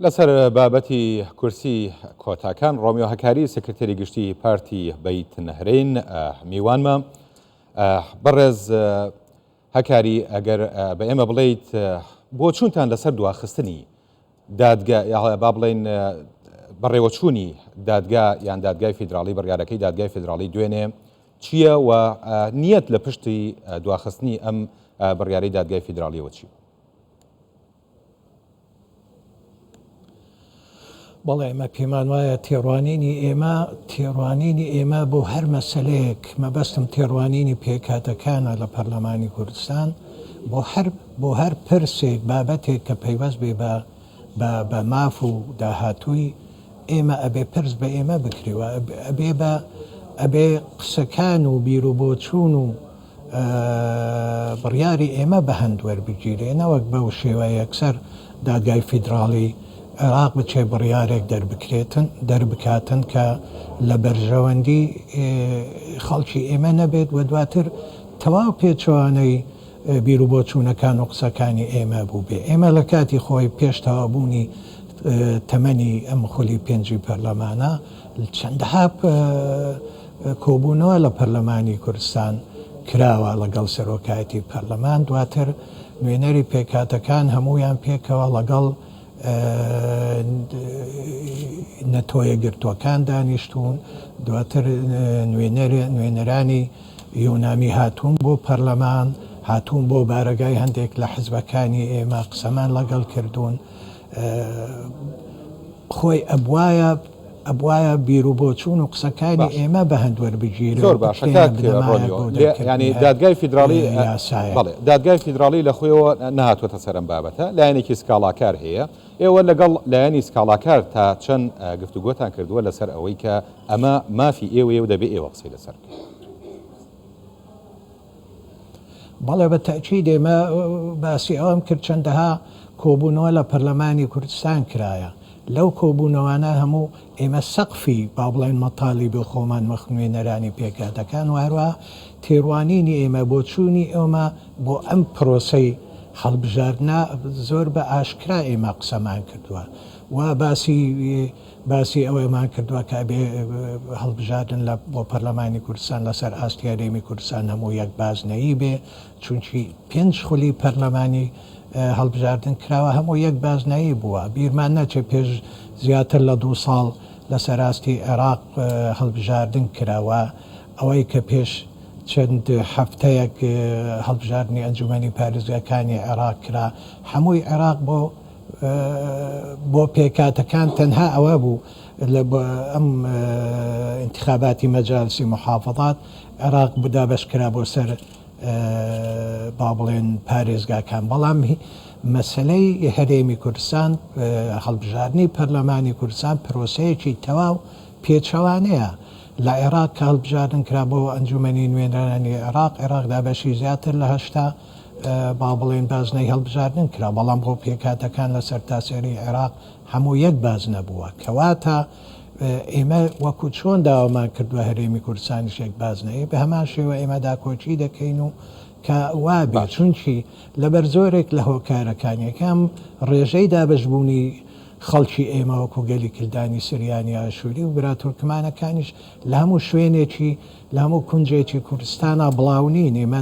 لەسەر بابەتی کورسی کۆتاکان ڕۆمیۆ هەکاری سکرتێری گشتی پارتی بیت نەهرین میوانمە بەڕێز هەکاری ئەگەر بە ئێمە بڵیت بۆ چونتان لەسەر دواخستنی دادگە با بڵین بەڕێوەچوونی دادگا یان دادگای فیدراڵی بڕیارەکەی دادگای فیدراڵی دوێنێ چییە و نیەت لە پشتی دواخستنی ئەم بڕیارەی دادگای فیدراڵیەوە چی بوو؟ بەڵێ ئێمە پێمان وایە تێڕوانینی ئێمە تێڕوانینی ئێمە بۆ هەر مەسلەیەک مەبەستم تێڕوانینی پێکاتەکانە لە پەرلەمانی کوردستان بۆ هەر بۆ هەر پرسێک بابەتێک کە پەیوەست بێ بە بە ماف و داهاتووی ئێمە ئەبێ پرس بە ئێمە بکرێەوە ئەبێ بە ئەبێ قسەکان و بیر و بۆچوون و بڕیاری ئێمە بە هەند وەربگیرێ نەوەک بەو شێوە یەکسەر دادگای فیدراڵی عێراق بچێ بڕیارێک دەربکرێتن دەربکاتن کە لە بەرژەوەندی خەڵکی ئێمە نەبێت و دواتر تەواو پێچەوانەی بیر و بۆچوونەکان و قسەکانی ئێمە بوو بێ ئێمە لە کاتی خۆی پێش تەوابوونی تەمەنی ئەم خولی پێنجی پەرلەمانە چەندەها کۆبوونەوە لە پەرلەمانی کوردستان کراوە لەگەڵ سەرۆکایەتی پەرلەمان، دواتر نوێنەری پێکهاتەکان هەموویان پێکەوە لەگەڵ نەتەوەیەکگرتووەکان دانیشتوون، دواتر نوێنەرانی یۆنامی هاتوون بۆ پەرلەمان، هاتوون بۆ بارەگای هەندێک لە حزبەکانی ئێمە قسەمان لەگەڵ کردوون، خۆی ئەبوایە ئەبوایە بیرو بۆچوون و قسەکانی ئێمە بە هەند وەربگیرێ زۆر باشە کاک ڕۆنیۆ یانی دادگای فیدراڵی یاسایە بەڵێ دادگای فیدراڵی لە خۆیەوە نەهاتوەتە سەر ئەم بابەتە لایەنێکی سکاڵاکار هەیە ئێوە لەگەڵ لایەنی سکاڵاکار تا چەند گفتوگۆتان کردووە لەسەر ئەوەی کە ئەمە مافی ئێوەیە و دەبێ ئێوە قسەی لەسەر بکەن بەڵێ بە تەئکید ئێمە باسی ئەوەم کرد چەندەها کۆبوونەوە لە پەرلەمانی کوردستان کرایە لەو کۆبوونەوانە هەموو ئێمە سەقفی با بڵێن مەتالیبی خۆمان وەخت نوێنەرانی پێکهاتەکان و هەروە تێروانینی ئێمە بۆ چوونی ئێمە بۆ ئەم پرۆسەی هەڵبژاردنە زۆر بە ئاشکرا ئێمە قسەمان کردووە و باسی باسی ئەوەمان کردوە کە ئەبێ هەڵبژاردن لە بۆ پەرلەمانی کوردستان لەسەر ئاستی هەرێمی کوردستان هەموو یەک بازنەیی بێ چونکی پێنج خولی پەرلەمانی هەڵبژاردن کراوە هەموو یەک بازنایی بووە بیرمان نەچێ پێش زیاتر لە دوو ساڵ لەسەر ئاستی عێراق هەڵبژاردن کراوە ئەوەی کە پێش چەند هەفتەیەک هەڵبژاردنی ئەنجومەنی پارێزگاکانی عێراق کرا هەمووی عێراق بۆ بۆ پێکهاتەکان تەنها ئەوە بوو لە ئەم ئینتخاباتی مەجالسی موحافەزات عێراق دابەش کرا بۆ سەر با بڵێن پارێزگاکان بەڵام مەسەلەی هەرێمی کوردستان هەڵبژاردنی پەرلەمانی کوردستان پرۆسەیەکی تەواو پێچەوانەیە لە عێراق کە هەڵبژاردن کرا بۆ ئەنجومەنی نوێنەرانی عێراق عێراق دابەشی زیاتر لە هەشتا با بڵێین بازنەی هەڵبژاردن کرا، بەڵام بۆ پێکهاتەکان لە سەرتاسەری عێراق هەموو یەک بازنە بووە. کەواتە ئێمە وەکو چۆن داوامان کردووە هەرێمی کوردستانیش یەک بازنەیە، بە هەمان شێوە ئێمە داکۆکی دەکەین و کە وا بێت. چونکی لەبەر زۆرێک لە هۆکارەکان، یەکەم ڕێژەی دابەشبوونی خەڵکی ئێمە وەکو گەلی کلدانی سریانی ئاشووری و برا تورکمانەکانیش لە هەموو شوێنێکی، لە هەموو کونجێکی کوردستانا بڵاو نین. ئێمە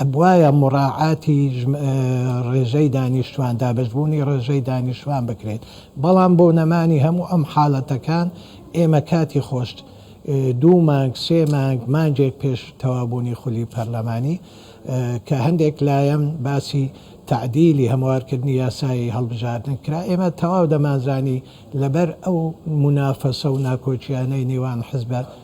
ئەبوایە موڕاعاتی ڕێژەی دانیشتوان، دابەشبوونی ڕێژەی دانیشتوان بکرێت، بەڵام بۆ نەمانی هەموو ئەم حالەتەکان ئێمە کاتی خۆشت دوو مانگ سێ مانگ مانگێک پێش تەوابوونی خولی پەرلەمانی کە هەندێک لایەن باسی تەعدیلی هەموارکردنی یاسای هەڵبژاردن کرا ئێمە تەواو دەمانزانی لەبەر ئەو مونافەسە و ناکۆکیانەی نێوان حزبە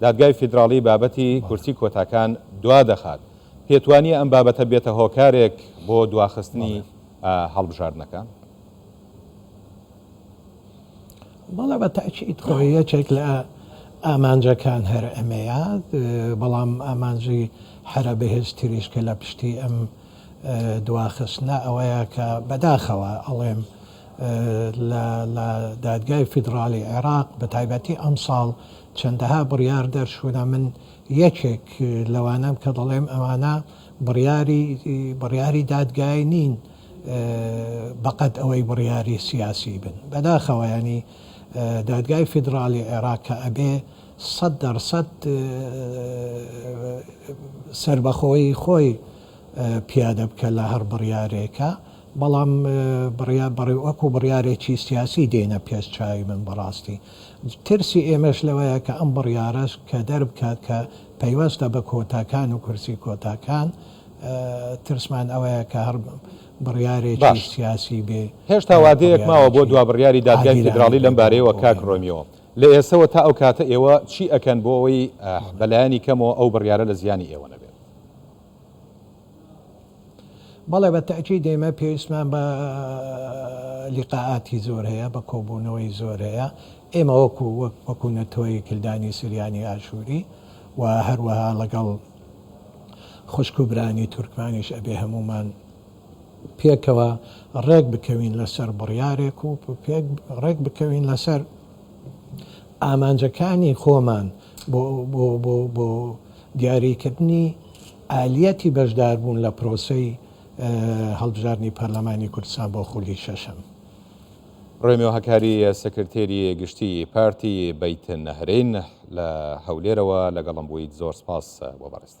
دادگای فیدراڵی بابەتی کورسی کۆتاکان دوا دەخات، پێت وانییە ئەم بابەتە بێتە هۆکارێک بۆ دواخستنی هەڵبژاردنەکە؟ بەڵێ بە تاکید خۆی یەکێک لە ئامانجەکان هەر ئەمەیە، بەڵام ئامانجی هەرە بەهێزتریش کە لە پشتی ئەم دواخستنە ئەوەیە کە بەداخەوە ئەڵێم لە دادگای فیدراڵی عێراق بە تایبەتی ئەمساڵ چەندەها بڕیار دەرچوونە من یەکێک لەوانەم کە دەڵێم ئەوانە بڕیاری بڕیاری دادگای نین بەقەد ئەوەی بڕیاری سیاسی بن بەداخەوە ینی دادگای فیدراڵی عێراق کە ئەبێ سەد دەرسەد سربەخۆی خۆی پیادە بکە لە هەر بڕیارێکە بەڵام بڕیا بڕی وەکو بڕیارێکی سیاسی دێنە پێش چاوی من بەڕاستی ترسی ئێمەش لەوەیە کە ئەم بڕیارەش کە دەربکات کە پەیوەستە بە کۆتاکان و کورسی کۆتاکان، ترسمان ئەوەیە کە هەر بڕیارێکی باش، سیاسی بێ هێشتا و وادەیەک ماوە بۆ بڕیارێکی دوا بڕیاری دادگای عادیلانە فیدراڵی لەم بێ بۆ بارەیەوە بۆ کاک ئێمە. ڕۆمیۆ، لە ئێستەوە تا ئەو کاتە ئێوە چی ئەکەن بۆ ئەوەی بە لایەنی کەمەوە ئەو بڕیارە لە زیانی ئێوە نەبێت؟ بەڵێ بە تەئکید ئێمە پێویستمان بە لیقائاتی زۆر هەیە بە کۆبوونەوەی زۆر هەیە ئێمە وەکو وەکو نەتۆی کلدانی سریانی ئاشووری و هەروەها لەگەڵ خوشک و برانی تورکمانیش ئەبێ هەمومان پێکەوە ڕێک بکەوین لەسەر بڕیارێک و پێک ڕێک بکەوین لەسەر ئامانجەکانی خۆمان بۆ دیاریکردنی ئالیەتی بەشداربوون لە پرۆسەی هەڵبژاردنی پەرلەمانی کوردستان بۆ خولی شەشەم. رۆمیۆ هەکاری سکرتێری گشتی پارتی بەیت نەهرین لە هەولێرەوە لەگەڵم بوویت زۆر سپاس بۆ بەڕێزت.